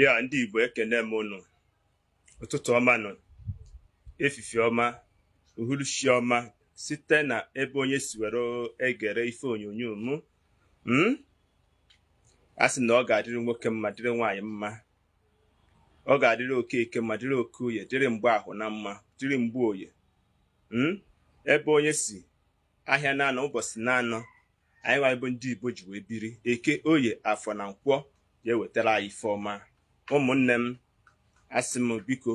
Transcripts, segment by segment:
ya ndị Igbo ekene m ụnụ ụtụtụ ọma nụ efifie ọma uhuruchi ọma site na ebe onye si were egere ife onyonyo m hmm? a sị na ọ ga-adịrị nwoke mma dịrị nwaanyị mma ọ ga-adịrị Okeke mma dịrị Okoye dịrị Mgbafọ mma dịrị Mgboye hmm? ebe onye si ahịa naanọ ụbọsị naanọ anyị nwa bụ ndị Igbo ji wee biri eke oye afọ na nkwọ ya-ewetara anyị ife ọma ụmụnne m asị m biko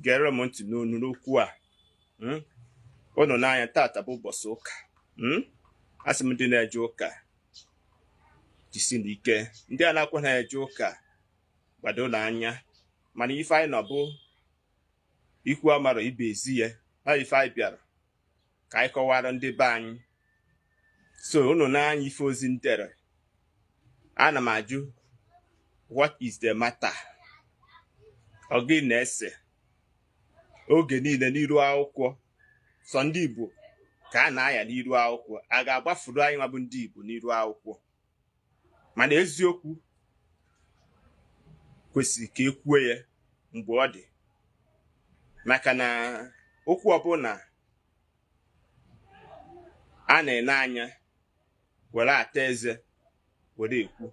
gere m ntị n'ọnụ okwu a hmm? ụnụ nee anya tata bụ ụbọsị ụka hmm? asị m ndị na-eje ụka jisie nụ ike ndị anakwanụ eje ụka gbado nụ anya mana ife anyị nọ bụ ikwu amarọ ibe ezi ya na ife anyị bịara ka anyị kọwara ndị be anyị so unu nee anya ife ozi m dere ana m ajụ what is the matter ọ gịnị na-ese oge niile n'iru akwụkwọ sọ ndị Igbo ka a na-aya n'iru akwụkwọ a ga-agbafuru anyị nwa bụ ndị Igbo n'iru akwụkwọ mana eziokwu kwesịrị ka e kwuo ya mgbe ọ dị maka na okwu ọbụna a na-ene anya were ata eze were ekwu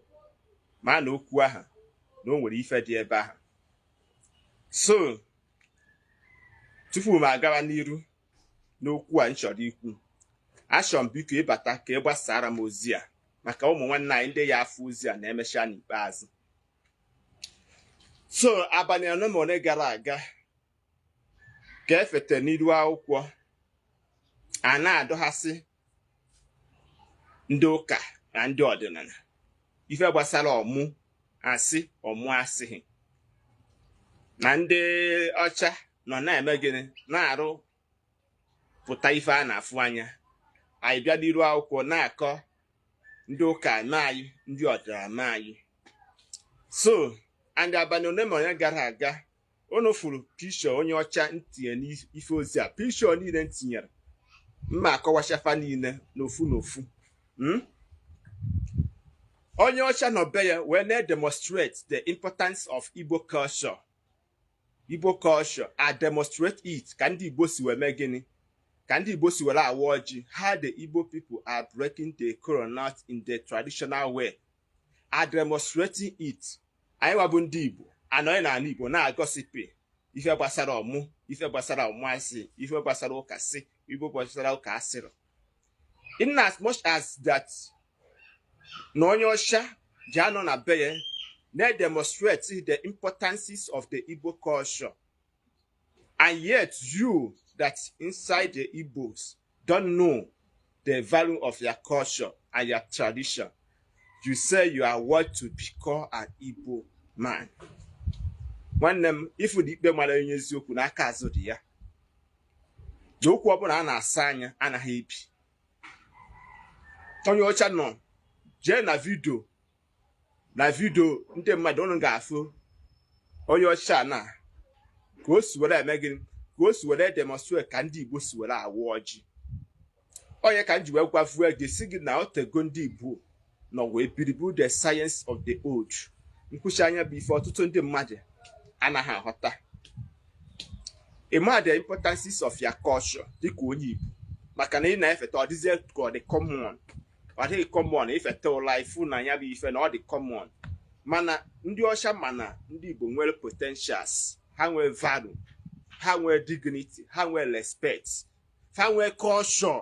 maa na okwu ahụ na o nwere ife dị ebe ahụ so tupu m agawa n'iru n'okwu a m chọrọ ikwu achọrọ m biko ị bata ka ị gbasaara m ozi a maka ụmụ nwanne anyị ndị ya-afụ ozi a na-emecha n'ikpeazụ so abalị anọ ma ole gara aga ka e fete n'iru akwụkwọ a na-adọghasị ndị ụka na ndị ọdịnala ife gbasara ọmụ asị ọmụ asịghị na ndị ọcha nọ na-eme gịnị na-arụpụta ife a na-afụ anya anyị bịa n'iru akwụkwọ na-akọ ndị ụka amaghị ndị ọdịnala amaghị so and abalị ole ma ole gara aga unu fụrụ picture onye ọcha m tinye n'ife ozi a picture niile m tinyere m ya-akọwacha fa niile n'ofu n'ofu hmm? onye ọcha nọ be ya wee na-demonstrate the importance of Igbo culture a demonstrate it ka ndị Igbo si wee mee gịnị ka ndị Igbo si were awa ọjị how the Igbo people are breaking the kolanut in the traditional way are demonstrating it anyị nwa bụ ndị Igbo anọghị n'ala Igbo na-egosipụ ife gbasara ọmụ ife gbasara ọmụasị ife gbasara ụka sị ife gbasara ụka asịrị in as much as that na onye ọcha ji anọ na be ya na-demonstrate the importances of the Igbo culture And yet you that inside the Igbos don't know the value of your culture and your tradition. You say you are worth to be called an Igbo man. nwanne m ị fụ na ikpe mara onye eziokwu na aka azụ dị ya na okwu ọbụla a na-asọ anya anaghị ebi onye ọcha nọ jee na vidio na vidio ndị mmadụ unu ga-afụ onye ọcha na ka o si were eme gịnị ka o si were demonstrate ka ndị Igbo si were awa ọjị ọ ya ka m ji wee gwavuo gị sị gị na o tego ndị Igbo nọ wee believe the science of the old nkwuchi anya bụ ife ọtụtụ ndị mmadụ anaghị aghọta ịma the importance of your culture dịka onye Igbo maka na ị na-efeta ọ dịzie ka ọ dị common ọ dị common ị feta ụlọ ị fụ na ya bụ ife na ọ dị common mana ndị ọcha ma na ndị Igbo nwere potentials ha nwee value ha nwee dignity ha nwee respect ha nwee culture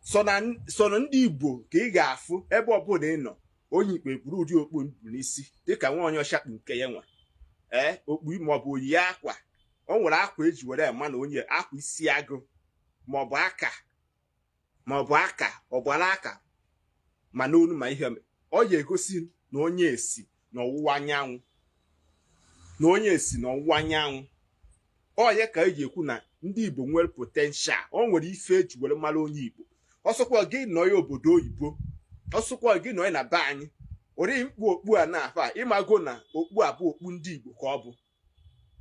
so na ndị Igbo ka ị ga-afụ ebe ọbụla ị nọ onye ikpe buru ụdị okpu n'isi dịka nwa onye ọcha kpu nke ya nwa ee okpu maọbụ o yi akwa o nwere akwa e ji were ma na onye akwa isi agụ maọbụ aka ma ọ bụ aka ọ gbara aka ma n'onu ma ihe ọ ya egosi na onye a si na ọwụwa anyanwụ na onye a si na ọwụwa anyanwụ ọ ya ka e ji ekwu na ndị Igbo nwere potential o nwere ife e ji were mara onye Igbo ọ sọkwa gị nọ na obodo oyibo ọ sọkwa gị nọ na be anyị ori m kpu okpu a na-afụ ị mago na okpu a bụ okpu ndị Igbo ka ọ bụ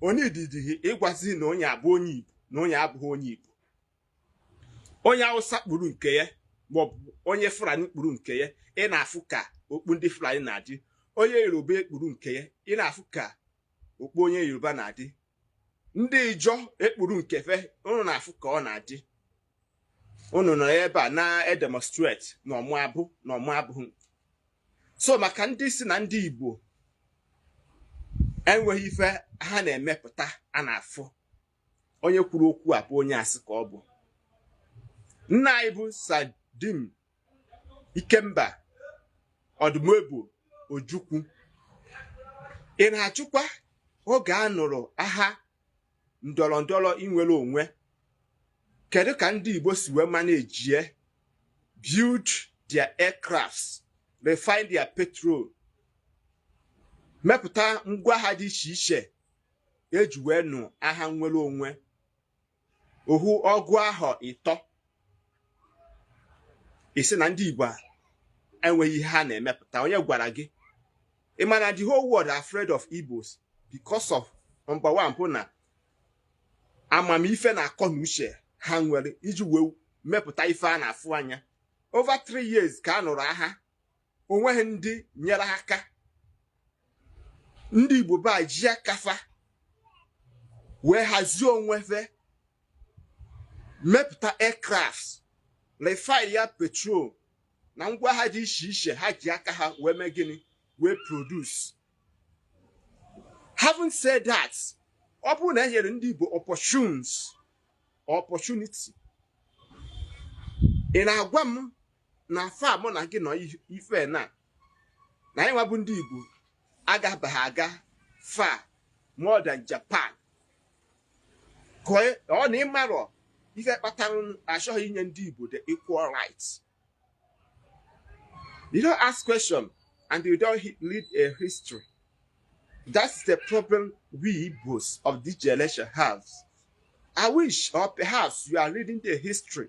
ọ needighi ịgwazi na onye a bụ onye Igbo na onye abụghị onye Igbo onye awụsa kpuru nke ya maọbụ onye fulani kpuru nke ya ị na-afụ ka okpu ndị fulani na-adị onye yoruba ekpuru nke ya ị na-afụ ka okpu onye yoruba na-adị ndị ijọ ekpuru nke fa unu na-afụ ka ọ na-adị unu nọ ebe a na-edemonstrate na ọmụ abụ na ọmụ abụghị so maka ndị sị na ndị igbo enweghị ife ha na-emepụta a na-afụ onye kwuru okwu a bụ onye asị ka ọ bụ nna anyị bụ sir dim ikemba odumegwu ojukwu ị na-ajụkwa oge a nụrụ agha ndọrọ ndọrọ inwere onwe kedu ka ndị igbo si wee manejie build their aircrafts refine their petrol mepụta ngwa agha dị iche iche e ji wee nụ aha nnwere onwe ohu ọgụ ahọ ịtọ ị sị na ndị Igbo enweghị ihe ha na-emepụta onye gwara gị ị ma na the whole world are afraid of Igbos because of number one bụ na amamife na akọ na uche ha nwere iji wee mepụta ife a na-afụ anya over three years ka a nụrụ aha o nweghị ndị nyere aka ndị Igbo be ji aka fa wee hazie onwe fe mepụta aircraft refine ya petrol na ngwa aha dị iche iche ha ji aka ha wee mee gịnị wee produce having said that ọ bụrụ na e nyere ndị Igbo opportunities opportunity ị na-agwa m na afa mụ na gị nọ ife na na anyị nwa bụ ndị Igbo agabaghị aga far more than Japan ọ na ị marọ ife kpatara a chọghị inye ndị Igbo the equal rights you don't ask question and you don't read a history that's the problem we Igbos of this generation have I wish or perhaps you are reading the history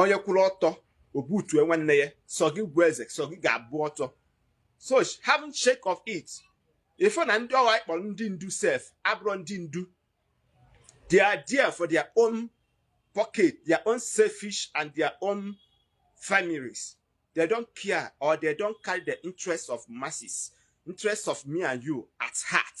onye kwụrụ ọtọ o butue nwanne ya sọ gị bụ eze sọ gị ga-abụ ọtọ so having shake of it ife na ndị ọwa ị kpọrọ ndị ndu sef abụrọ ndị ndu they are there for their own pocket their own selfish and their own families they don't care or they don't carry the interests of masses interests of me and you at heart